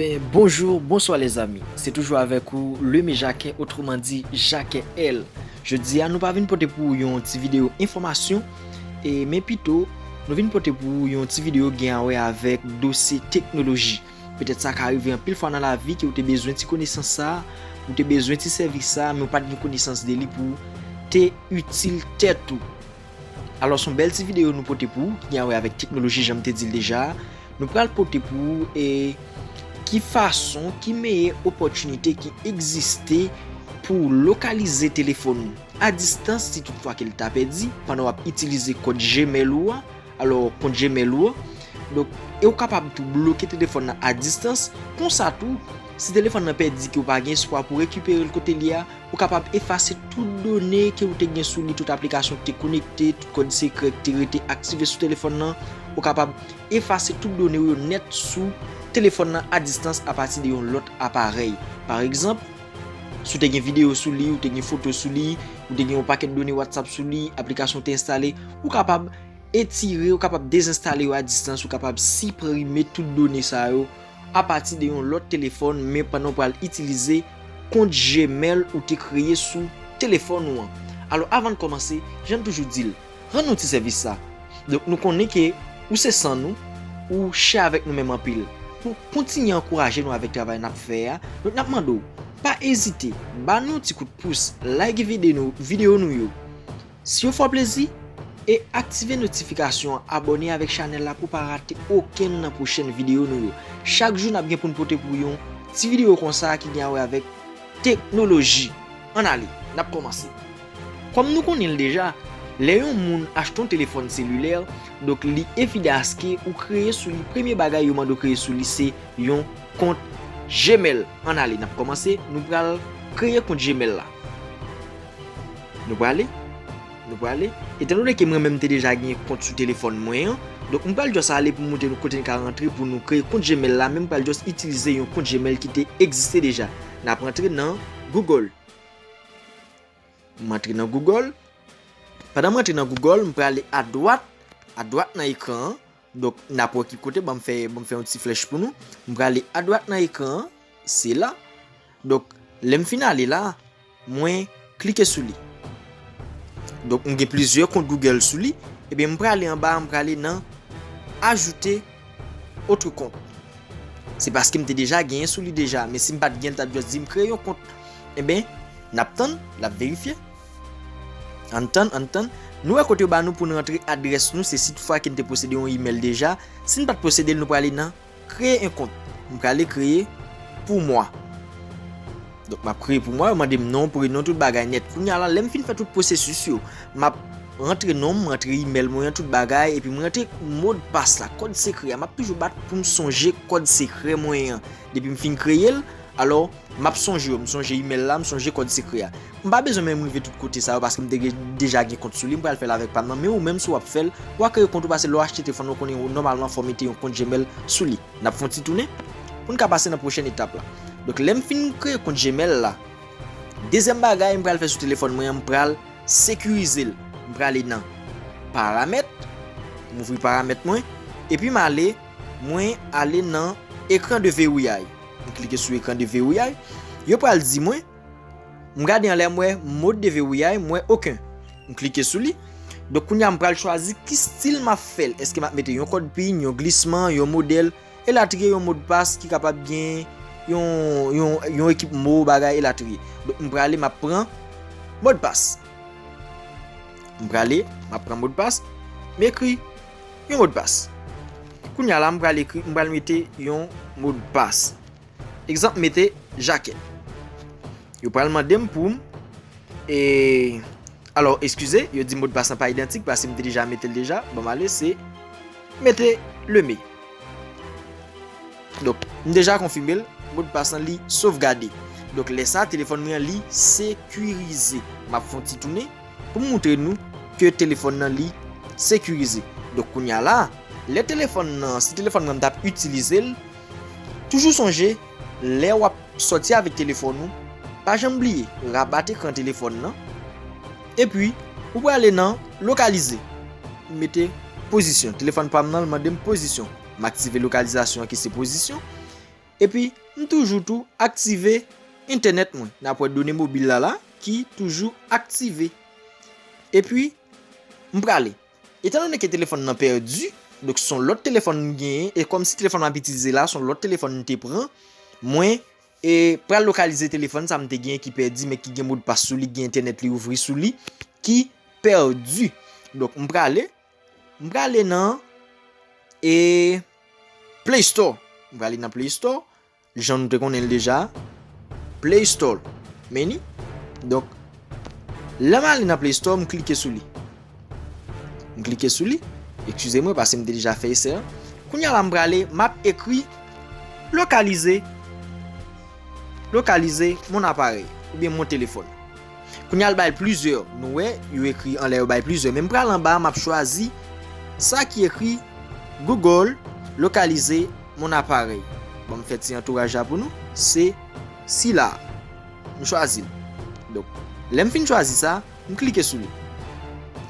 Ben bonjour, bonsoir les amis. Se toujou avèk ou Leme Jacquet, otreman di Jacquet L. Jodi a nou pa vin pote pou ou yon ti video enfòmasyon, e men pito nou vin pote pou ou yon ti video gen a wè avèk dosye teknoloji. Petèt sa ka rive anpil fwa nan lavi ke ou te bezwen ti konesans sa, ou te bezwen ti sèvis sa men ou pat gen konesans de li pou te itil tèt ou. Alòs yon bèl ti videyo nou pote pou ou ki gen a wè avèk teknoloji jan m te di l deja a. Nou pral pote pou ou e ki fason, ki meye opòtinite ki egziste pou w lokalize telefòn ou a distans si tout fwa ke l ta pèdi pandan w ap itilize kòd Gmail ou a, alò kont Gmail ou an. Donk e ou kapab tou bloke telefòn nan a distans, konsa tou si telefòn nan pèdi ke ou pa gen espwa pou rekipere l kote l ye a, Ou kapab efase tout done ke ou te gen sou li, tout aplikasyon ki te konekte, tout kòd sekrè ki te rete aktive sou telefòn nan. Ou kapab efase tout done ou yo nèt sou telefòn nan a distans a pati de yon lòt aparèy. Pa egzanp, si ou te gen videyo sou li, ou te gen foto sou li, ou te gen yon pakèt done WhatsApp sou li, aplikasyon ou te enstale, ou kapab etire, ou kapab dezenstale yo a distans, ou kapab siprime tout done sa yo. apati de yon lòt telefòn men pandan ou pral itilize kont Gmail ou te kreye sou telefòn ou an. Alò avan n kòmanse, jan n toujou di l, rann nou ti sèvis sa. Donk nou konnen ke ou se san nou, ou chè avèk nou menm anpil. Pou kontinye ankouraje nou avèk travay n ap fè a, donk n ap mande w, pa ezite, ba nou yon ti kout pous, like vide nou, videyo nou yo. Si yo fè w plezi e aktive notifikasyon an abòne avèk chanèl la pou pa rate okenn nan pwochèn videyo nou yo. Chak jou nap gen poun pote pou yon ti videyo konsa ki gen a wè avèk teknoloji. Ann ale nap kòmanse. Kòm nou konnen l deja, lè yon moun achte yon telefòn selilè, donk li evide aske ou kreye sou li premye bagay yo mande w kreye sou li se yon kont Gmail. Ann ale nap kòmanse, nou pral kreye kont Gmail la. Nou prale? Nou prale? Etan done ke mwen menm te deja gen kont sou telefòn mwen an, donk m pral just ale pou m montre nou kote n ka rantre pou nou kreye kont Gmail la men m pral just itilize yon kont Gmail ki te egziste deja. N ap rantre nan Google. M antre nan Google. Pandan m antre nan Google, m prale a dwat, a dwat nan ekran an. Donk, n ap wè ki kote, ban m fè, ban m fè yon ti flèch pou nou. M prale adwat nan ekran an, se la. Donk, lè m fin ale la, mwen klike sou li. Donk, m gen plizyè kont Google sou li. Ebyen, m prale anba, m prale nan ajoute otre kont. Se paske m te deja genyen sou li deja. Men si m pa t genyen l t ap just di m kreye yon kont. Ebyen, n ap tann, l ap verifye. Ann tann, ann tann, nou wè kot yo ba nou pou n rantre adrès nou, se si toutfwa ke n te posede yon imèl deja, si n pa t posede l nou prale nan Kreye yon kont, m prale kreye pou mwa. Donk m ap kreye pou mwa, yo mande m non, prenon, tout bagay nèt. Kounya la, lè m fin fè tout pwosesis yo, m ap rantre non m, rantre imèl mwen an, tout bagay, epi m rantre modpas la, kòd sekrè a, m ap toujou bat pou m sonje kòd sekrè mwen an depi m fin kreye l, alò. Map sonje yo, m sonje email la, m sonje kòd sekrè a. M pa bezwen menm rive tout kote sa yo paske m te gen deja gen kont sou li, m pral fèl avèk pam nan, men ou menm si wap fèl, wa kreye kont ou pase lè w achte telefòn lan w konnen ou nòmalman fò mete yon kont Gmail sou li. Nap fè yon ti tounen poun ka pase nan pwochèn etap la. Donk lèm fin kreye kont Gmail la, dezyèm bagay m pral fè sou telefòn mwen an m pral sekirizel. M prale nan paramèt, m ouvri paramèt mwen, epi m ale. Mwen ale nan Ekran de vewouyay. M klike sou Ekran de vewouyay. Yo pral di mwen, m gade anlè m wè Mode de vewouyay, m wè oken. M klike sou li. Donk kounye a m pral chwazi ki stil m ap fè l. Eske m ap mete yon kòd pin, yon glisman, yon modèl, elatriye, yon modpas ki kapab gen yon ekip mo, bagay, elatriye. Donk m prale m ap pran Modpas. M prale m ap pran Modpas. M ekri. yon modpas. Kounya la m pral ekri m pral mete yon modpas. Egzanp m mete Jacques. Yo pral mande m pou m e alò eskize yo di modpas lan pa idantik paske m te deja mete l deja. Bon m ale se mete le me. Donk m deja konfime l modpas lan li sovgade. Donk lè sa telefòn mwen an li sekirize. M ap fon ti tounen. Pou moutre nou ke telefòn nan li sekirize. Donk kounya la, lè telefòn nan, si telefòn nan m tap itilize l, toujou sonje lè wap sòti avèk telefòn ou, pa janm bliye rabat ekran telefòn nan, epi ou prale nan lokalize, ou mete pozisyon, telefòn pam nan l mandem pozisyon, m aktive lokalizasyon an ki se pozisyon, Epi m toujou tou aktive entènèt mwen. N ap wè done mobil la la ki toujou aktive. Epi m prale. Etan done ke telefòn nan pèdi, donk son lòt telefòn m genyen, e kòm si telefòn m ap itilize la son lòt telefòn m te pran, mwen e pral lokalize telefòn sa m te genyen ki pèdi men ki gen modpas sou li, ki gen entènèt li ouvri sou li, ki pèdi. Donk m prale. M prale nan e Play Store. M prale nan Play Store. Jan nou te konnen l deja. Play Store. Meni. Donk. Lè m ale nan Play Store, m klike sou li. M klike sou li. Ekskize mwen pase m te deja fè esè an. Kounya la m prale, m ap ekri lokalize, lokalize mon aparèy. Oubyen mon telefòn. Kounye a l bay plizyè. Nou wè, yo ekri anlè yo bay plizyè. Men m pral anba a, m ap chwazi sa ki ekri Google localize mon appareil. Bon, m fè ti antouraj la pou nou. Se sila a. M chwazi l. Donk, lè m fin chwazi sa, m klike sou li.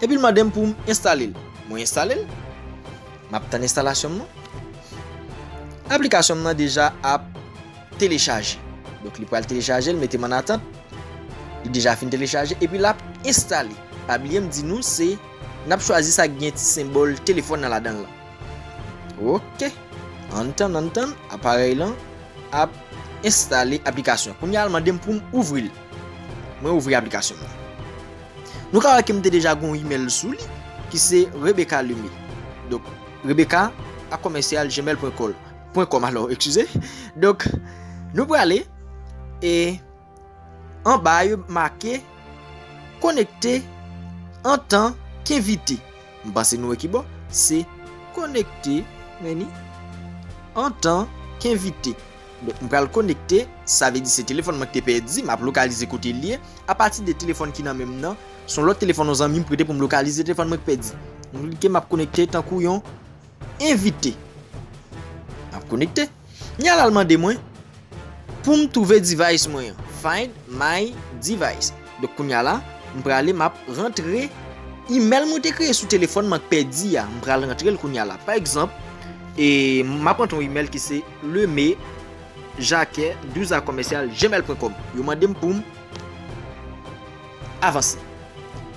Epi l mande m pou m enstale l. Mwen enstale l. M ap tann enstalasyon m nan. Aplikasyon m nan deja ap. telechaje. Donk li pral telechaje l mete m an atant. Li deja fin telechaje epi l ap enstale. Pa bliye m di nou se n ap chwazi sa ki gen ti senbòl telefòn nan ladan l lan. Ok ann tann ann tann aparèy lan ap enstale aplikasyon. Kounye a l mande m pou m ouvri l. Mwen ouvri aplikasyon m lan. Nou ka wè ke m te deja gen yon imèl sou li ki se Rebecca Lemy. Donk Rebecca akomèsyal gmail pwen kòl. Pwen kòm alò eskize Donk nou prale E anba yo make Konekte Antan kenvite M panse nou wè ki bon Se konekte Meni Antan kenvite Donk m pral konekte Sa vle di se telefòn mwen ki te pèdi M ap lokalize kote l ye Apati de telefòn ki nan men m nan S on lòt telefòn yon zanmi m prete pou m lokalize telefòn mwen ki pèdi M klike m ap konekte tankou yon Envite. M ap konekte. M yal al mande mwen pou m twouve device mwen an. Find my device. Donk kounya la, m prale m ap rantre email mwen te kreye sou telefòn m an k pèdi a. M pral rantre l kounya la. Pa egzanp, e m ap rantre yon email ki se leme jacques 12 a commercial gmail pwen kòm. Yo mande m pou m. Avanse.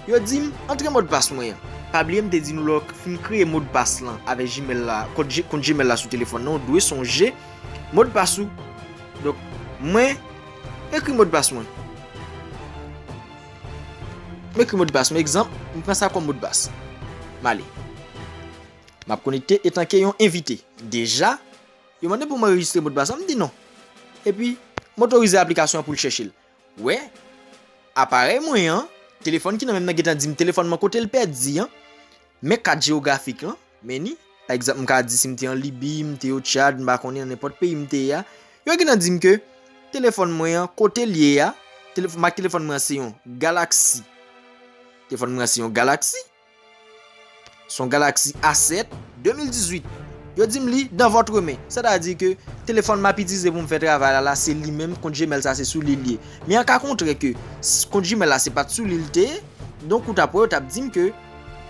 Yo dim antre modpas mwen an. Pa bliye m te di nou lè w fin kreye modpas lan avèk Gmail la, kont Gmail la sou telefòn nan, ou dwe sonje modpas ou. Donk, mwen ekri modpas mwen. M ekri modpas mwen, egzanp, m pran sa kòm modpas. M ale. M ap konekte etanke yon envite. Deja, yo mande pou m anrejistre modpas lan, m di non. Epi, m otorize aplikasyon an pou l chèche l. Wè, aparèy mwen an, telefòn ki nan menm nan gentan di m telefòn mwen kote l pèdi an, men kat jewografik lan, men ni, pa egzanp m ka di si m te an Libi, m te o Tchad, m pa konnen nan nenpòt peyi m te ye a, yo gentan di m ke telefòn mwen an kote l ye a, mak telefòn mwen an se yon Galaxy. Telefòn mwen an se yon Galaxy. Son Galaxy A7, 2018. Yo dim li dans votre main. Sètadi ke telefòn map itize poum fè travay la la se li menm kont Gmail sa se sou li liye. Men an ka kontrè ke kont Gmail la se pat sou li li te ye, donk ou tap wè yo tap dim ke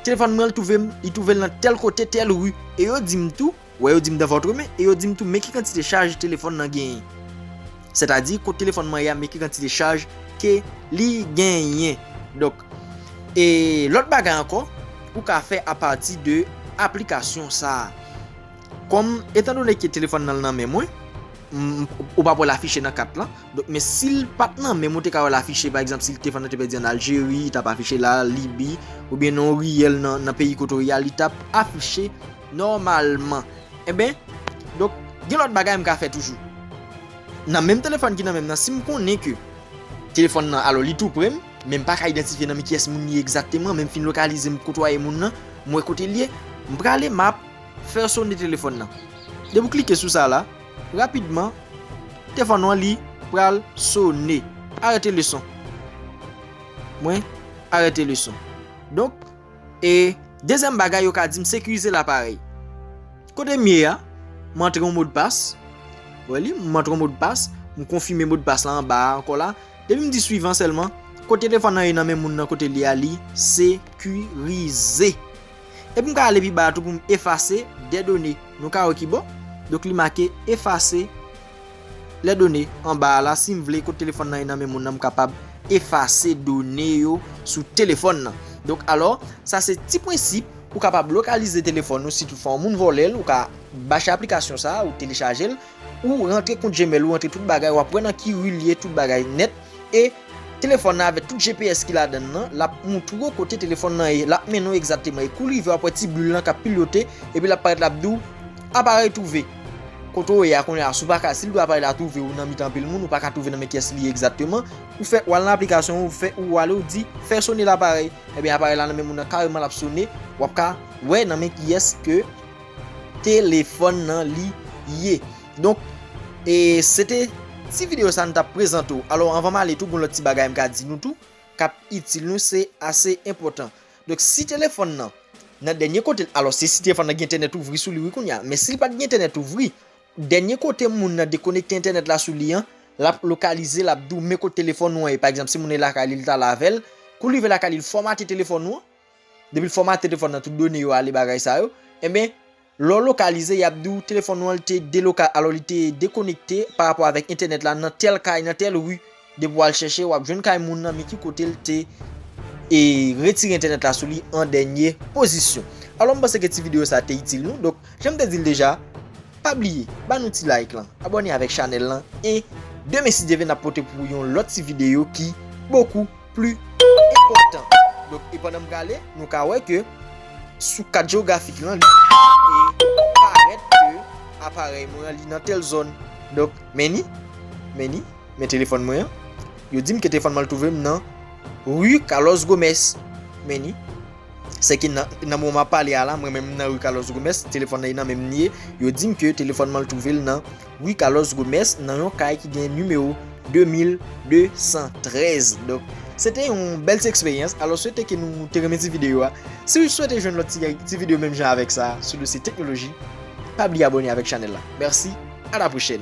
telefòn mwen l twouve m li twouve l nan tèl kote tèl rue e yo dim tou Wè yo di m dans votre main e yo di m tou men ki kantite chaj telefòn nan genyen. Sètadi kot telefòn mwen ye a men ki kantite chaj ke li genyen. Donk e lòt bagay ankò ou ka fè apati de aplikasyon sa a. Kòm etan done ke telefòn nan nan men mwen, ou pap wè l afiche nan kat lan. Donk men si l pat nan men mwen ou te ka wè l afiche pa egzanp si telefòn nan te pèdi an Aljeri li tap afiche la, Libi oubyen nan yon riyèl nan peyi kote ou ye a li tap afiche. Nòmalman. Enben, donk, gen lòt bagay m ka fè toujou. Nan menm telefòn ki nan men m nan, si m konnen ke telefòn nan, alò li tou pre m, men m pa ka idantifye nan men kiyès moun li ye egzakteman, men m fin lokalize, m kotwaye moun nan, m wè kote l ye, m prale m ap fè sone telefòn nan. Depi w klike sou sa la, rapidman, tefòn ou an li pral sone. Arete leson. Mwen arete leson. Donk. E dezyèm bagay yo ka dim sekirize laparèy. Kote m ye a, m antre yon modpas, ou wè li, m antre yon modpas, m konfime modpas la anba a ankò la, depi m di swivan sèlman, kote telefòn nan ye nan men moun nan kote li ye a li sekirize. Epi m ka ale pi ba a tou pou m efase de done. Nou ka wè ki bò? Donk li make efase. Lè done anba a la, si m vle, kote telefòn nan ye nan men moun nan, m kapab efase done yo sou telefòn nan. Donk alò, sa se ti prensip ou kapab lokalize telefòn ou si tout fwa yon moun vòlè l, ou ka bache aplikasyon sa a, ou telechaje l, ou rantre kont Gmail ou, rantre tout bagay, w ap wè nan ki ri l ye, tout bagay nèt e. Telefòn nan avèk tout GPS ki ladan l lan, l ap montre w kote telefòn nan ye. L ap mennen w egzakteman e kou l rive w ap wè ti bul lan k ap pilyote epi l ap parèt l ap di w, Aparèy twouve. Kote w ye a kounye a, si w pa ka, si l di aparèy la twouve ou nan mitan anpil moun, ou pa ka twouve nan men kiyès li ye egzakteman, ou fè, w al nan aplikasyon an, ou fè, ou ale ou di, fè sone laparèy. Ebyen aparèy la nan men moun nan kareman l ap sone, w ap ka wè nan men kiyès ke telefòn nan li ye. Donk e se te ti video sa nou tap prezante ou. Alò anvan m ale tou gon lòt ti bagay m ka di nou tou kap itil nou se ase enpòtan. Donk si telefòn nan nan dènye kote l alò se si telefòn nan gen entènèt ouvri sou li wi kounya men si l pat gen entènèt ouvri dènye kote moun nan dekonekte entènèt la sou li an lap lokalize lap di w men kot telefòn ou an ye pa egzanp si moun nan lakay li li tal avè l kou l rive lakay li l fòmate telefòn ou an depi l fòmate telefòn nan tout done yo ale bagay sa yo enben Lè w lokalize, y ap di w telefòn ou an te deloka alò li te dekonekte pa rapò avèk entènèt la nan tèl kay, nan tèl ri. Depi w al chèche, w ap jwenn kay moun nan men ki kote l te e retire entènèt la sou li an dènye pozisyon. Alò m panse ke ti videyo sa te itil nou. Donk, jan m te di l deja, pa bliye ba nou ti like lan, abòne avèk chanèl lan e demen si Dye vle n ap pote pou ou yon lòt ti videyo ki bokou. pli enpòtan. Donk, e pandan m prale, nou ka wè ke sou kat jewografik lan, li parèt ke aparèy mwen an li nan tèl zòn. Donk, men ni, men ni, men telefòn mwen an. Yo di m ke telefòn mwen an twouve m nan Rue Carlos Gomez. Men ni, se ke nan, nan moman m ap pale a la, mwen menm m nan Rue Carlos Gomez, telefòn nan e nan men m li ye. Yo di m ke telefòn mwen an twouve l nan. Rue Carlos Gomes nan yon kay ki gen nimewo 2213 donk se te yon bèl ti eksperyans alò swete ke nou te renmen ti videyo a si ou swete jwenn lòt ti videyo menm jan avèk sa sou dosye teknoloji pa bliye abòne avèk chanèl la mèsi a la pwochèn.